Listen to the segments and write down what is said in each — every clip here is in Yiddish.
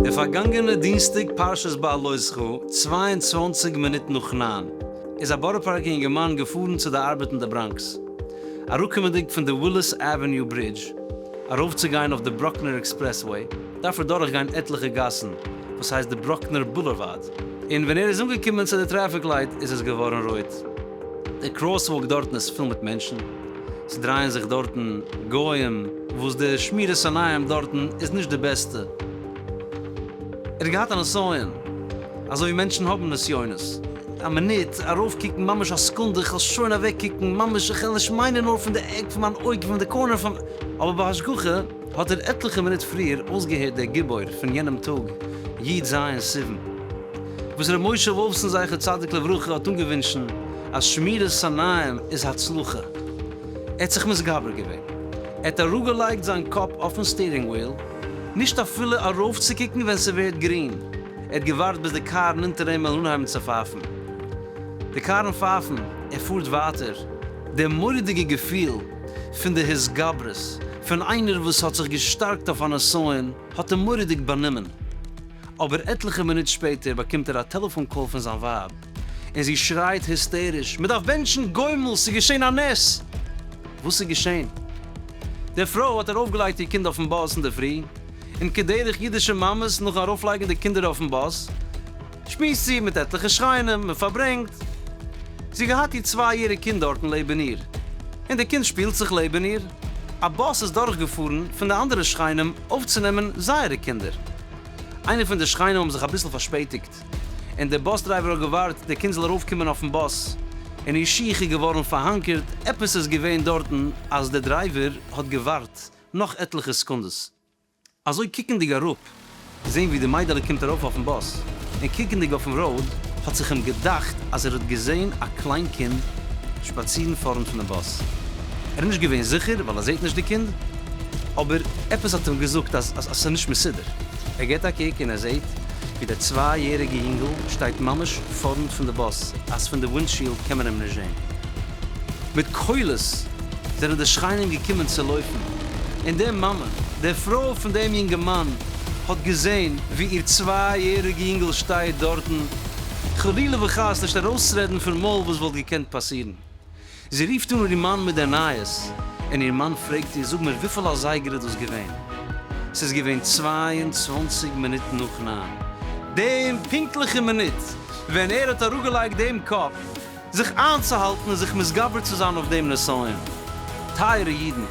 די פארגאנגענע דינסטאג פרשת בעלוי ז ח, צוויי און צוואַנציק מינוט נאך נײַן, איז א בארא פארקער יונגערמאן געפארן צו די ארבעט אין די בראנקס. אראפקומענדיג פון די וויליס עוועניו ברידזש ארויפצוגיין אויף די ברוקלינער עקספרעסוועי, דארף ער דורכגיין עטליכע גאסן וואס הייסט די ברוקנער בולערוואד, און ווען ער איז אנגעקומען צו די טרעפיק לייט איז עס געווארן רויט. די קראסוואלק דארטן איז פול מיט מענטשן, ס'דרייען זיך דארטן גוים וואס די שמירת עיניים דארטן איז נישט די בעסטע. ער האט געהאט א נסיון, אזוי ווי מענטשן האבן נסיונות, א מינוט ארויפקוקן ממש א סעקונדע איך וועל שוין אוועקקוקן ממש איך וועל נישט מיינען נאר פון די עק פון מיין אויג פון די קארנער פון אבער ביי השגחה, האט ער עטליכע מינוט פריער אויסגעהערט דער גיבור פון יענעם טאג י ז סיוון וואס ר' משה וואלפסאן זכר צדיק לברכה האט אנגעווינטשן אז שמירת עיניים איז הצלחה, ער האט זיך מתגבר געווען, ער האט אראפגעלייגט זיין קאפ אויפן סטירינג וויל, נישט אפילו ארויפצוקוקן ווען ס'ווערט גרין, ער האט געווארט ביז די קארן אונטער אים וועלן אנהייבן צו פייפן, די קארן פייפן, ער פארט ווייטער, דער מורא'דיגע געפיל, פון די התגברות פון איינער וואס האט זיך געשטארקט אויף א נסיון האט אים מורא'דיג באנומען, אבער עטליכע מינוט שפעטער באקומט ער א טעלעפאן קאל פון זיין ווייב און זי שרייט היסטעריש מען דארף בענטשן גומל ס'איז געשען א נס! וואס איז געשען? די פרוי האט ארויפגעלייגט איר קינד אויפן באס אינדערפרי און כדרך אידישע מאמעס נאכן ארויפלייגן די קינדער אויפן באס, שמועסט זי מיט עטליכע שכנים און פארברענגט. זי האט געהאט איר צוויי יעריג קינד דארטן לעבן איר, און די קינד שפילט זיך לעבן איר. א באס איז דורך געפארן פון די אנדערע שכנים אויפצונעמען זייערע קינדער. איינער פון די שכנים האבן זיך אביסל פארשפעטיגט, און די באס דרייווער האט געווארט די קינד זאל ארויף קומען אויפן באס, און איר שיך איז געווארן פארהאנקערט, עפעס איז געווען דארטן אז די דרייווער האט געווארט נאך עטליכע סעקונדעס. אזוי קוקנדיג אראפ, געזען ווי די מיידעלע קומט ארויף אויפן באס, און קוקנדיג אויפן ראוד, האט זיך אים געדאכט אז ער האט געזען א קליין קינד שפאצירן פארנט פון די באס. ער איז נישט געווען זיכער ווייל ער זעט נישט די קינד, אבער עפעס האט אים געזאגט אז עס איז נישט מסודר. ער גיבט א קוק און ער זעט ווי דער צוויי יעריגע יונגל שטייט ממש פארנט פון די באס אז פון די ווינדשיעלד קען מען אים נישט זען. מיט קולות! זענען די שכנים געקומען צו לויפן, און די מאמע, די פרוי פון דעם יונגערמאן, האט געזען ווי איר צוויי יעריגע יונגעל שטייט דארטן, חלילה וחס נישט ארויסרעדן פון מויל וואס וואלט געקענט פאסירן. זי רופט אן איר מאן מיט די נייעס, און איר מאן פרעגט איר, זאג מיר, וויפיל אזייגער איז דאס געווען? ס'איז געווען צוויי און צוואַנציק מינוט נאך ניין, דעם פונקטליכן מינוט ווען ער האט אראפגעלייגט דעם קאפ. זיך איינצוהאלטן און זיך מתגבר צו זיין אויף דעם נסיון. טייערע אידן,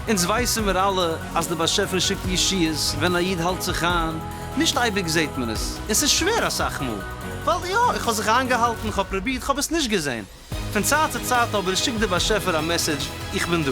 אונז ווייסן מיר אלע אז דער באשעפער שיקט ישועות ווען א איד האלט זיך איין, נישט אייביג זעט מען עס, און ס'איז שווער אסאך מאל, ווייל יא, איך האב זיך איינגעהאלטן, כ'האב פרובירט, כ'האב עס נישט געזען. פון צייט צו צייט אבער שיקט דער באשעפער א מעסעדזש, איך בין דא.